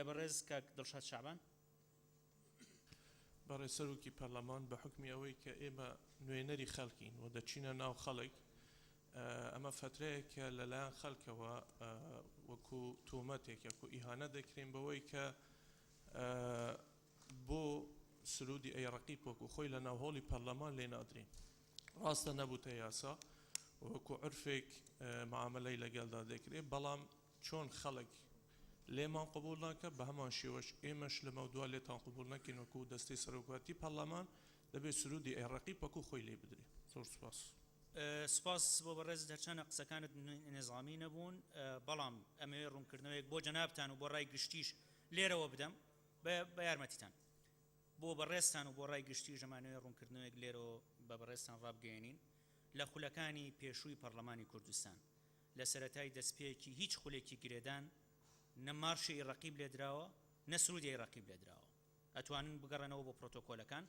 بەڕێز کاک دڵشاد شەعبان. بەڕێز سەرۆکی پەرلەمان بە حوکمی ئەوەی کە ئێمە نوێنەری خەڵکین و دەچینە ناو خەڵک ئەمە فەترەیەکە لە لایەن خەلکەوە وەکو تۆمەتێک یەکو ئیهانە دەکرێن بەوەی کە بۆ سرودی ئەی ڕقی پۆکو خۆی لە ناوهۆڵی پەرلەمان لێ نادرین ڕاستە نەبووتە یاسا وەکو عرفێک معاملەی لەگەلدا دەکرێت بەڵام چۆن خەڵک لێمان قبوڵ ناکا، بە هەمان شێوەش ئێمەش لەمەودوا لێتان قبوڵ نەکەین وەکوو دەستەی سەرۆکایەتی پەڕڵەمان، دەبێ سروودی ئەی ڕەقیب وەکوو خۆی لێ بدرێ. زۆر سوپاس. سوپاس بۆ بەڕێزت، هەرچەندە قسەکانت نیزامی نەبوون، بەڵام ئەمەوێ ڕوونکردنەوەیەک بۆ جەنابتان و بۆ ڕای گشتیش لێرەوە بدەم، بە یارمەتیتان. بۆ بەڕێزتان و بۆ ڕای گشتیش ئەمانەوێ ڕوونکردنەوەیەک لێرەوە بە بەڕێزتان ڕابگەیەنین، لە خولەکانی پێشووی پەڕڵەمانی کوردستان، لە سەرەتای دەستپێکی هیچ خولێکی گرێدان نە مارشی ی ڕەقیب لێدراوە نە سرودی ی ڕەقیب لێدراوە ئەتوانن بگەڕێنەوە بۆ پرۆتۆکۆلەکان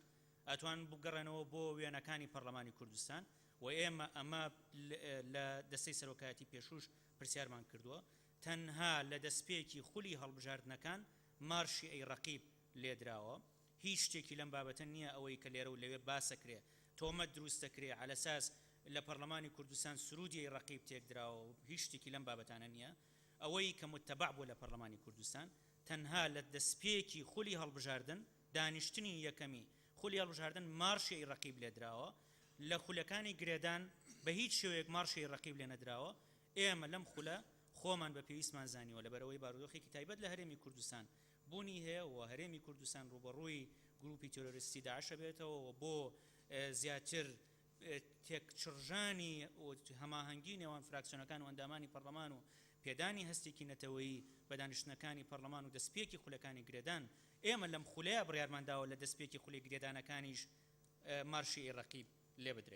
ئەتوانن بگەڕێنەوە بۆ وێنەکانی پەڕلەمانی کوردستان و ئێمە ئەمە لە دەستەی سەرۆکایەتی پێشووش پرسیارمان کردووە تەنها لە دەستپێکی خولی هەڵبژاردنەکان مارشی ی ڕەقیب لێدراوە هیچ شتێکی لەم بابەتە نییە ئەوەی کە لێرە و لەوێ باسەکرێ تۆمەت دروستەکرێ عەلەساس لە پەڕلەمانی کوردستان سرودیی ڕەقیب تێکدراوە و هیچ شتێکی لەم بابەتانە نییە ئەوەی کە متەبەع بووە لە پەڕلەمانی کوردستان تەنها لە دەسپێکی خولی هەڵبژاردن دانیشتنی یەکەمی خولی هەڵبژاردن مارشیی ڕەقیب لێدراوە لە خولەکانی گرێدان بە هیچ شێوەیەک مارشیی ڕەقیب لێنەدراوە ئێمە لەم خولە خۆمان بە پێویستمان زانیوە لەبەرئەوەی بارودۆخێکی تایبەت لە هەرێمی کوردستان بوونی هەیە و هەرێمی کوردستان ڕووبەڕووی گرووپی تێرۆریستی داعش ئەبێتەوە و بۆ زیاتر تێکچڕژانی و هەماهەنگی نێوان فراکسیۆنەکان و ئەندامانی پەڕڵەمان و پێدانی هەستێکی نەتەوەیی بە دانیشتنەکانی پەڕڵەمان و دەستپێکی خولەکانی گرێدان ئێمە لەم خولەیە بڕیارمان داوە لە دەستپێکی خولی گرێدانەکانیش مارشی ی ڕەقیب لێبدرێ.